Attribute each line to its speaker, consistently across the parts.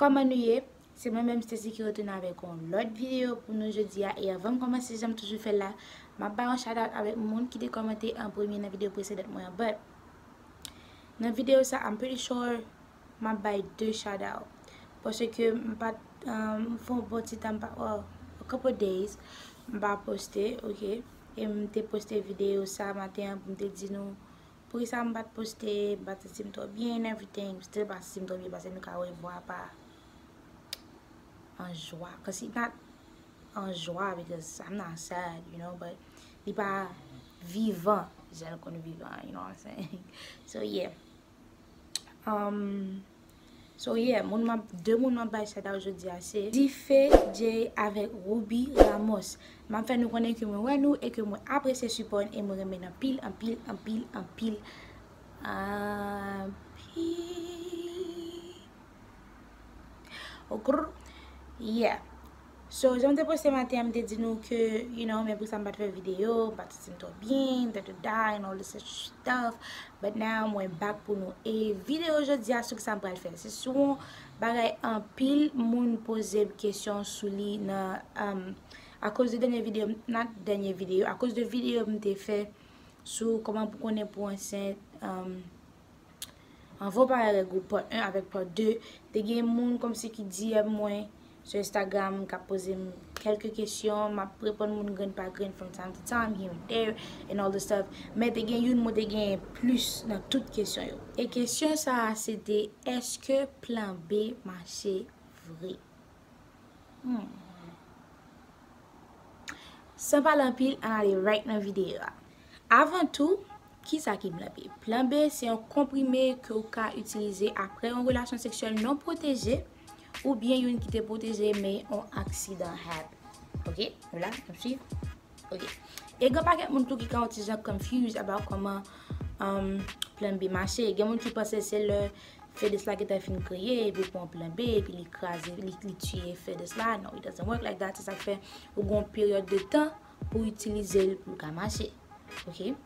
Speaker 1: Koman nou ye? Se mwen menm Stacy ki retounen avèk yon lòt videyo pou nou jodi a e avanm kòmanse janm toujou fèl la map bay yon shout out avèk moun ki te kòmante an premye nan videyo presedant mwen an but nan videyo sa I'm pretty sure map bay 2 shout out paske mpat mfè yon bon ti tan mpa oh a couple of days mpa poste ok e mte poste videyo sa maten an poum te di nou Poukisa m pat poste batisi m trop byen and everything still batisi m trop byen pase nou ka wè vwa pa an jwa cos it not an jwa because I'm not sad you know but li pa vivan jan l konn vivan you know what I'm saying so yeah. So yeah, moun map, 2 moun map bay shout out jodi a se. Dife Jay avèk Rubi Ramos. Map fè nou konnen ke mwen wè nou e ke mwen apresye sipò n e mwen renmen n anpil, anpil, anpil, anpil, anpil. Okrr. Yeah. So jan m te poste maten an m te di nou ke you know men pousa m pat fè video m pat santi m twò byen dadada and all this other stuff but now mwen back pou nou e video jodi a sou kisa m pral fè l se sou yon bagay anpil moun poze m kesyon sou li nan um akoz de dènye video not dènye video akoz de video m te fè sou kòman pou konnen pou ansent um. Anvan w pale avèk ou part 1 avèk part 2, te gen moun kòmsi ki DM mwen sou Instagram kap poze m kèlke kesyon, map reponn moun grenn pa grenn from time to time, here and there, and all the stuff. Men te gen youn mwen te genyen plis nan tout kesyon yo. E kesyon sa a se te, Eske plan B mache vre? Hmm. San pale anpil, an ale right nan videyo a. Avan tou, ki sa ki plan B? Plan B se yon komprime ke ou ka itilize apre yon relasyon seksyèl non pwoteje ou byen yon ki te pwoteje men yon aksidan happen. Ok? Nou la? Nou suiv? Ok. E gen pakèt moun tou ki ka wè ti jan confused about kòman um, plan B mache. Gen moun ki panse se lè Fedes la gentan fin kreye epi ou pran plan B epi li kraze, li tiye Fedes la. No, it doesn't work like that. Se sa k fè ou gen yon peryòd de tan pou itilize l pou l ka mache. Ok.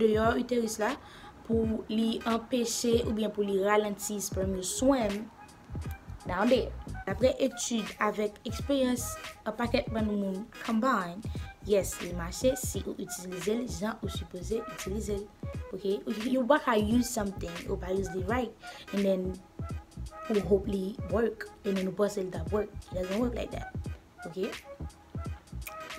Speaker 1: deyò uterus la pou li anpeche oubyen pou li ralanti sperm yo swim down there. Daprè etid avèk eksperyans an pakèt bann moun combine, yes li mache si ou itilize l jan ou sipoze itilize l ok ou pa ka use something ou pa use li right and then ou hope li work and then ou panse li tap work it doesn't work like that ok.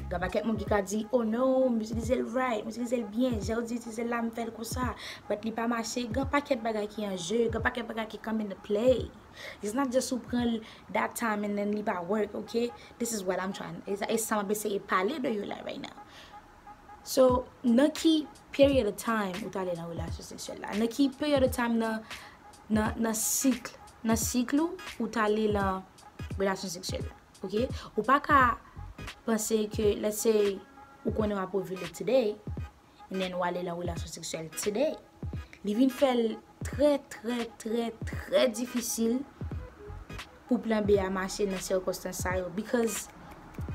Speaker 1: Gen pakèt moun ki ka di, oh no, m itilize l right, m itilize l byen, jan yo di itilize l la m fè l konsa, but li pa mache, gen pakèt bagay ki an jeu, gen pakèt bagay ki come into play. It's not just ou pran l that time and then li pa work, ok? This is what I'm trying, e sa m ap eseye pale de yo la right now. So, nan ki period of time ou t ale nan relasyon seksyèl la? Nan ki period of time nan, nan, nan cycle, nan cycle ou, ou t ale lan relasyon seksyèl la? Ok ou pa ka panse ke let's say ou konnen wap ovule today and then ou ale lan relasyon seksyèl today li vin fèl trè trè trè trè difisil pou plan B a mache nan sirkonstans sa yo because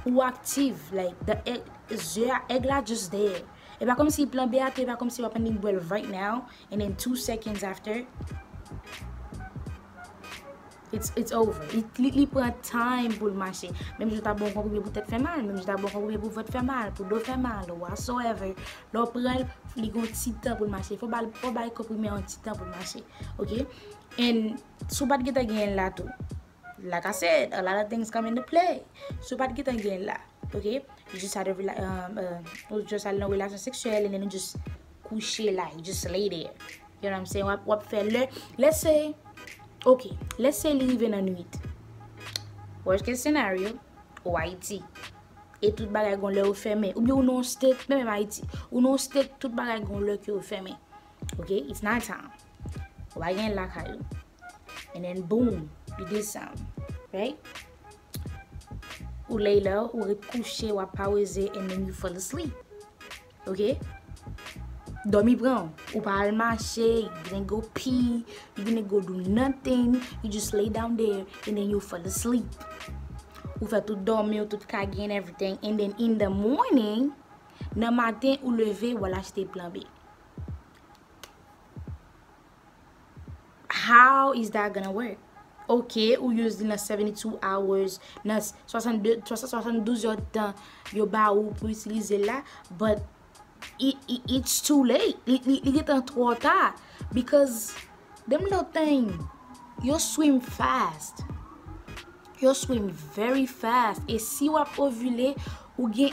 Speaker 1: ou aktiv like the egg ze a egg la just there e pa kòmsi plan B a tou e pa kòmsi wap annik bwèl right now and then two seconds after. It's over. Li pran time pou l mache. Menm jan w ta bon yon konprime pou tèt fè mal, menm jan w ta bon yon konprime pou vant fè mal, pou do fè mal, whatsoever, lè w pran l, li gen yon ti tan pou l mache. Fò w bay konprime an yon ti tan pou l mache. Ok? And, si w pa t gentan genyen l la tou, like I said, a lot of things come into play. Si w pa t gentan genyen l la, ok, you just had a, ou just al nan relasyon seksyèl and then you just kouche la you just lay there you know what I'm saying wap wap fè lè let's say ok let's say li rive nan nwit worst case scenario ou ayiti e tout bagay gon lè yo fèmen oubyen ou nan yon state menm ayiti ou nan yon state tout bagay gon lè ke yo fèmen ok it's night time ou pa gen lakay ou and then boom li desann right ou lay lè ou ret kouche wap paweze and then you fall asleep Ok Domi pranw ou pa al mache you didn't go pee you didn't go do nothing you just lay down there and then you fall asleep ou fè tout domiw tout kage and everything and then in the morning nan maten ou leve ou al achte plan B. How is that gonna work? Ok ou use li nan 72 hours, nan 62, 72 heures de tan yo ba ou pou itilize la, but it's too late, li gentan twò ta, because them little thing yo swim fast, yo swim very fast, e si wap ovule ou gen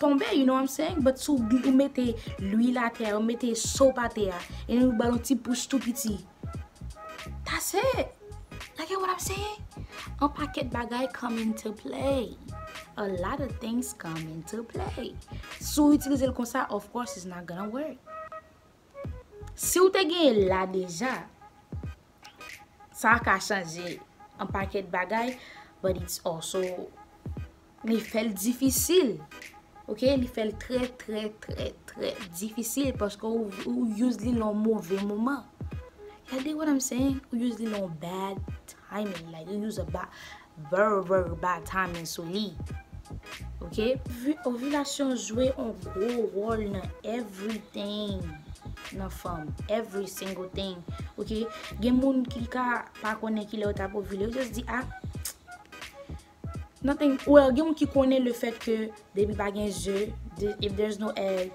Speaker 1: Tonbe you know what I'm saying but sou bgy ou mete lwil atè a ou mete soap atè a and then ou bal yon ti pouch tou piti that's it ya get what I'm saying yon pakèt bagay come into play a lot of things come into play si w itilize l konsa of course it's not gonna work si w te genyen l la deja sa ka chanje yon pakèt bagay but it's also Li fèl difisil ok li fèl trè trè trè trè difisil paske ou use li nan move moman ya di what I'm saying ou use li nan bad timing like you use a bad very very bad timing sou li ok ovilasyon jwe yon gwo wòl nan everything nan fanm every single thing ok gen moun ki ka pa konnen kilè yo tap ovile yo just di ah. Nothing well gen moun ki konnen le fèt ke depi pa gen ze if there's no egg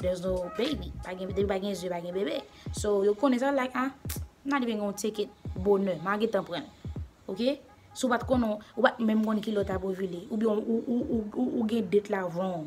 Speaker 1: there's no baby depi pa gen ze pa gen bebe so yo konnen sa like ah m not even gonna take it bonè ma gentan pranl ok si w pat konnen w pat menm konn ki lè w tap ovile oubyen ou gen date la wrong.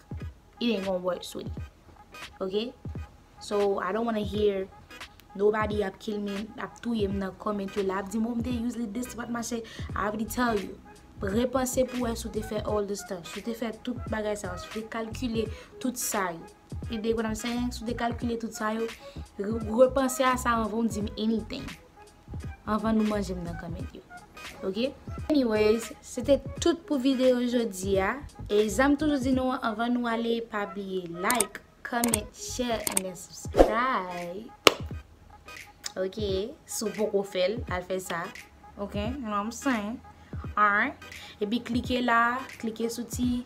Speaker 1: it ain't gonna work sweetie ok so I don't wanna hear nobody ap kill me ap touyem nan comment yo la ap dim oh m te use li this pat mache I already tell you repanse pou wè si w te fè all the stuff si w te fè tout bagay sa yo si w te kalkile tout sa yo you dig what I'm saying si w te kalkile tout sa yo repanse a sa anvan w dim anything Anvan nou manje m nan kanmèt yo ok. Anyways se te tout pou video jodi a e sa m toujou di nou an anvan nou ale pa bliye like, comment, share and then subscribe ok si w poko fè l al fè sa ok you know what I'm saying alright epi klike la klike sou ti.